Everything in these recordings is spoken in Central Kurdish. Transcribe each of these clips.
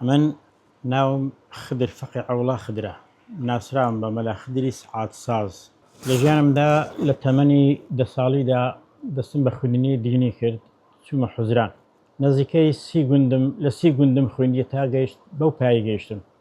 من ناوم خدر فەقێ عەوڵا خدرە، ناسراوم بە مەلا خدری سەعات ساز. لە ژیانمدا لە تەمەنی دە ساڵیدا دەستم بە خویندنی دینی کرد، چوومە حوزران. نزیکەی سی گوندم، لە سی گوندم خویندی تا گەیشت بەو پایەی گەیشتم.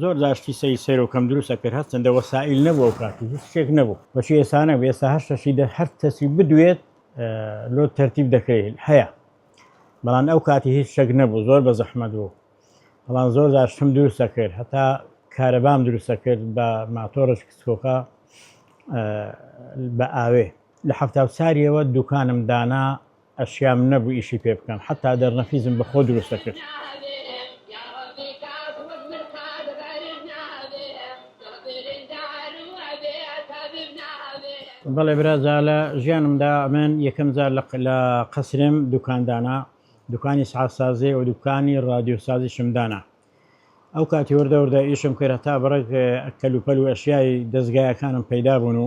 زۆر جار شتی سەیر سەیر و کەم دروست ئەکرد هەر چەندە وەسائیل نەبوو ئەو کات و هیچ شتێک نەبوو بەشی ئێستا نەبوو ئێستا هەر شەشی دە هەر کەسی بدوێت لۆ تەرتیب دەکرێت هەیە بەڵام ئەو کاتی هیچ شەک نەبوو زۆر بە زەحمەت بوو بەڵام زۆر جار شتم دروست دەکرد هەتا کارەبام دروست دەکرد بە ماتۆرش کچکۆکە بە ئاوێ لە هەفتا و چاریەوە دوکانم دانا ئەشیام نەبوو ئیشی پێ بکەم حەتا دەرنەفیزم بە خۆ دروست دەکرد. بەڵێ برا جا لە ژیانمدا من یەکەم جار لە لە قەسرم دوکان دانا دوکانی سعات سازی و دوکانی رادیو سازیشم دانا ئەو کاتی وردە وردە ئیشم کرد هەتا بڕێک کەلوپەل و ئەشیای دەستگایەکانم پەیدا بوون و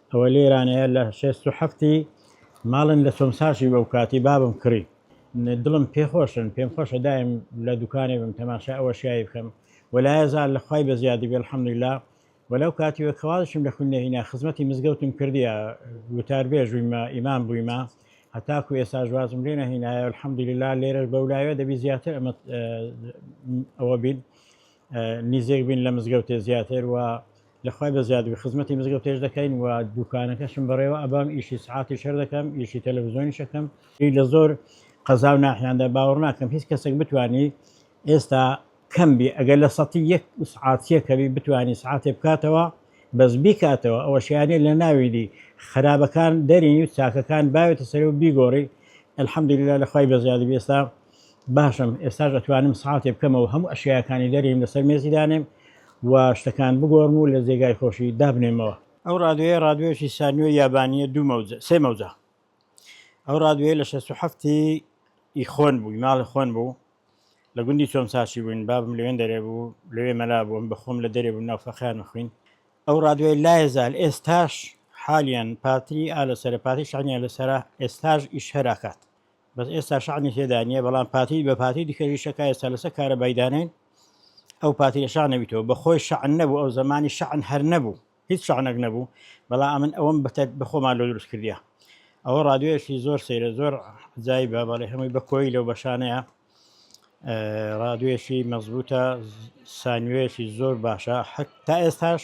ئەوە لێرانەیە لە شێست و حەفتی ماڵن لە چۆمساشی بەو کاتی بابم کڕی دڵم پێ خۆشن پێم خۆشە دایم لە دوکانێ بم تەماشای ئەو ئەشیایی بکەم وەلایە زار لە خوای بەزیادی بێ الحمدللە و لەو کاتیوە کەوازشم لە خوندنێ هینا خزمەتی مزگەوتم کردیە وتاربێژ بوویمە ئیمام بوویمە هەتاکو ئێستاش وازم لێ نەهینایە الحمدللە لێرەش بەولاوێ دەبی زیاتر ئەمە ئەوە بین نزیک بین لە مزگەوتێ زیاتر و لە خوای بە زیادبی خزمەتی مزگەوتێش دەکەین و دوکانەکەشم بەڕێوە ئەبام ئیشی سعاتی شەر دەکەم ئیشی تەلەڤزیۆنی شەکەم لە زۆر قەزا و ناحیاندا باوەڕ ناکەم هیچ کەسێک بتانی ئێستا کەم بی ئەگەر لە سەتی یەک سعاتیەکەوی بتانی سعاتێ بکاتەوە بەس بیکاتەوە ئەوە شیانە لە ناویدی خراپەکان دەرینی و چاکەکان باوێتە سەر و بیگۆڕی الحمدللا لە خی بە زیادبی ئێستا باشم ئێستاش ئەتوانم سەعاتێ بکەمە و هەموو ئەشیاکانی دەریم لەسەر مێزی دانێم و شتەکان بگۆڕم و لە جێگای خۆشی دابنێمەوە. ئەو ڕادوێیە ڕادوێیەکی سانیۆی یابانییە دوو مەوجە سێ مەوجە ئەو ڕادوێیە لە شەست و حەفت ی ی خۆن بووی ماڵی خۆن بوو لە گوندی چۆمساچی بووین بابم لەوێن دەرێ بوو لەوێ مەلا بووم بە خۆم لە دەرێ بوو ناو فەقێان مەخوین ئەو ڕادوێی لایە زال ئێستاش حالیەن پاتری ئا لەسەرە پاتری شانیان لەسەرە ئێستاش ئیش هەر ئەکات بەس ئێستا شانی تێدا نییە بەڵام پاتی بە پاتی دیکە ریشەکە ئێستا لەسەر کارە بایدانین ئەو پاتی لە شان نەبیتەوە بە خۆی شان نەبوو ئەو زمانی شان هەر نەبوو هیچ شانەک نەبوو بەڵام ئەمن ئەوم بەتە بەخۆمان لۆ دروست کردە ئەوە ڕادوێشی زۆر سەیرە زۆر جای بە بەڵێ هەمووی بە کۆی لەو بەشانەیە ڕادوێشی مەزبوتە سانوێشی زۆر باشە حتا ئێستاش